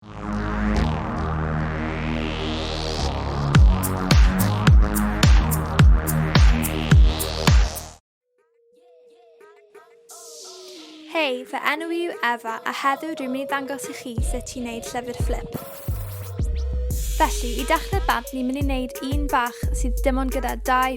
Hei, fy enw i yw Efa a heddiw dwi'n mynd i ddangos i chi sut ti'n neud llyfr fflip. Felly, i dechrau bant ni'n mynd i wneud un bach sydd dim ond gyda dau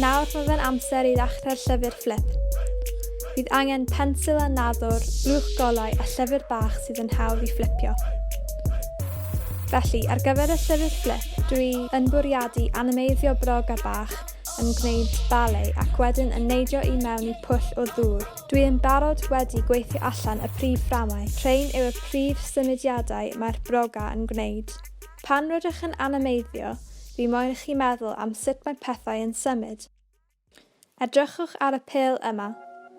Nawr mae fe'n amser i ddechrau'r llyfr fflip. Bydd angen pensil a nadwr, blwch golau a llyfr bach sydd yn hawdd i fflipio. Felly, ar gyfer y llyfr fflip, dwi yn bwriadu animeiddio broga bach yn gwneud ballet ac wedyn yn neidio i mewn i pwll o ddŵr. Dwi yn barod wedi gweithio allan y prif fframau. Rhain yw y prif symudiadau mae'r broga yn gwneud. Pan rydych yn animeiddio, fi moyn i chi meddwl am sut mae pethau yn symud. Edrychwch ar y pêl yma,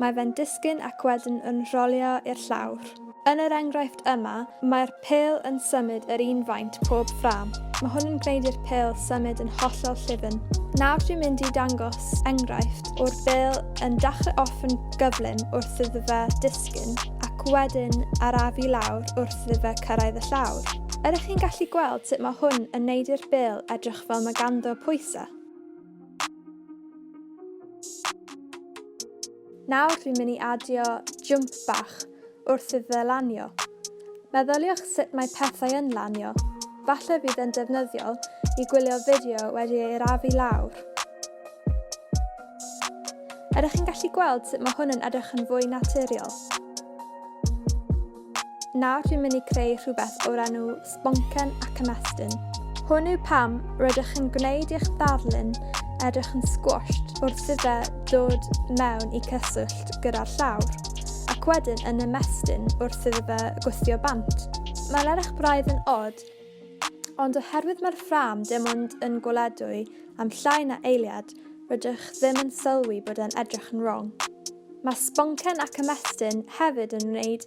mae fe'n disgyn ac wedyn yn rholio i'r llawr. Yn yr enghraifft yma, mae'r pêl yn symud yr un faint pob ffrâm. Mae hwn yn gwneud i'r pêl symud yn hollol llyfn. Nawr dwi'n mynd i dangos enghraifft o'r bêl yn dachrau off yn gyflym wrth iddo fe disgyn ac wedyn arafu lawr wrth iddo fe cyrraedd y llawr. Ydych chi'n gallu gweld sut mae hwn yn neud i'r bêl edrych fel mae ganddo pwysa? Nawr dwi'n mynd i adio jump bach wrth iddo fe lanio. Meddyliwch sut mae pethau yn lanio. Falle bydd yn defnyddiol i gwylio fideo wedi ei arafu lawr. Ydych chi'n gallu gweld sut mae hwn yn edrych yn fwy naturiol? Nawr rwy'n mynd i creu rhywbeth o'r enw Sboncen ac Ymestyn. Hwn yw pam rydych chi'n gwneud i'ch ddarlun edrych yn squashed wrth iddo dod mewn i cyswllt gyda'r llawr, ac wedyn yn ymestyn wrth iddo fe gwthio bant. Mae'n edrych braidd yn od, ond oherwydd mae'r ffrâm dim ond yn gweledwy am llai na eiliad, rydych ddim yn sylwi bod e'n edrych yn wrong. Mae sboncen ac ymestyn hefyd yn wneud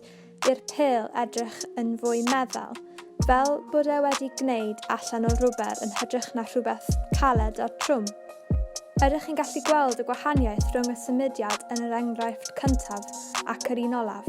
i'r pêl edrych yn fwy meddal, fel bod e wedi gwneud allan o rwber yn hytrach na rhywbeth caled a trwm. Ydych chi'n gallu gweld y gwahaniaeth rhwng y symudiad yn yr enghraifft cyntaf ac yr un olaf?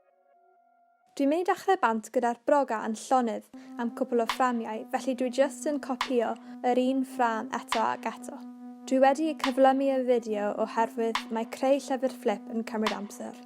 Dwi'n mynd i dachle bant gyda'r broga yn llonydd am cwpl o fframiau felly dwi jyst yn copïo yr un ffram eto ac eto. Dwi wedi y cyflymu y fideo oherwydd mae creu llyfr fflip yn cymryd amser.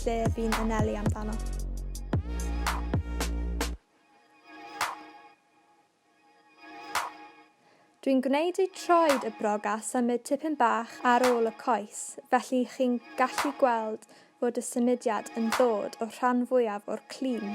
lle fi'n anelu amdano. Dwi'n gwneud i troed y brog a symud tipyn bach ar ôl y coes, felly chi'n gallu gweld fod y symudiad yn ddod o'r rhan fwyaf o'r clun.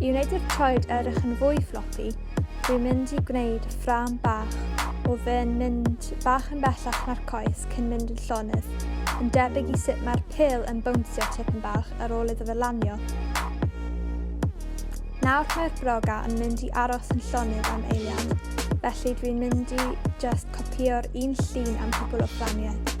I wneud i'r troed edrych yn fwy floppy, dwi'n mynd i gwneud ffram bach o fe'n mynd bach yn bellach na'r coes cyn mynd yn llonydd, yn debyg i sut mae'r pil yn bownsio tipyn bach ar ôl iddo fe lanio. Nawr mae'r broga yn mynd i aros yn llonydd am eiliad, felly dwi'n mynd i just copio'r un llun am cwbl o fframiau.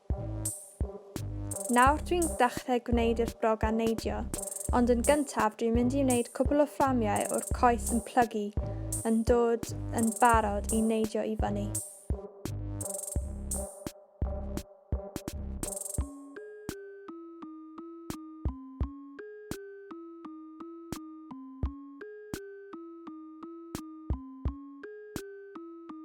Nawr dwi'n dechrau gwneud yr brogan neidio, ond yn gyntaf dwi'n mynd i wneud cwpl o fframiau o'r coes yn plygu yn dod yn barod i neidio i fyny.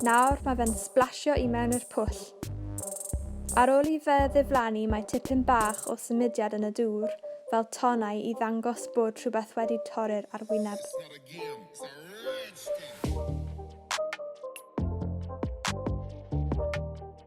Nawr mae fe'n sblasio i mewn i'r pwll. Ar ôl i fe ddiflannu mae tipyn bach o symudiad yn y dŵr fel tonnau i ddangos bod rhywbeth wedi torri'r arwyneb.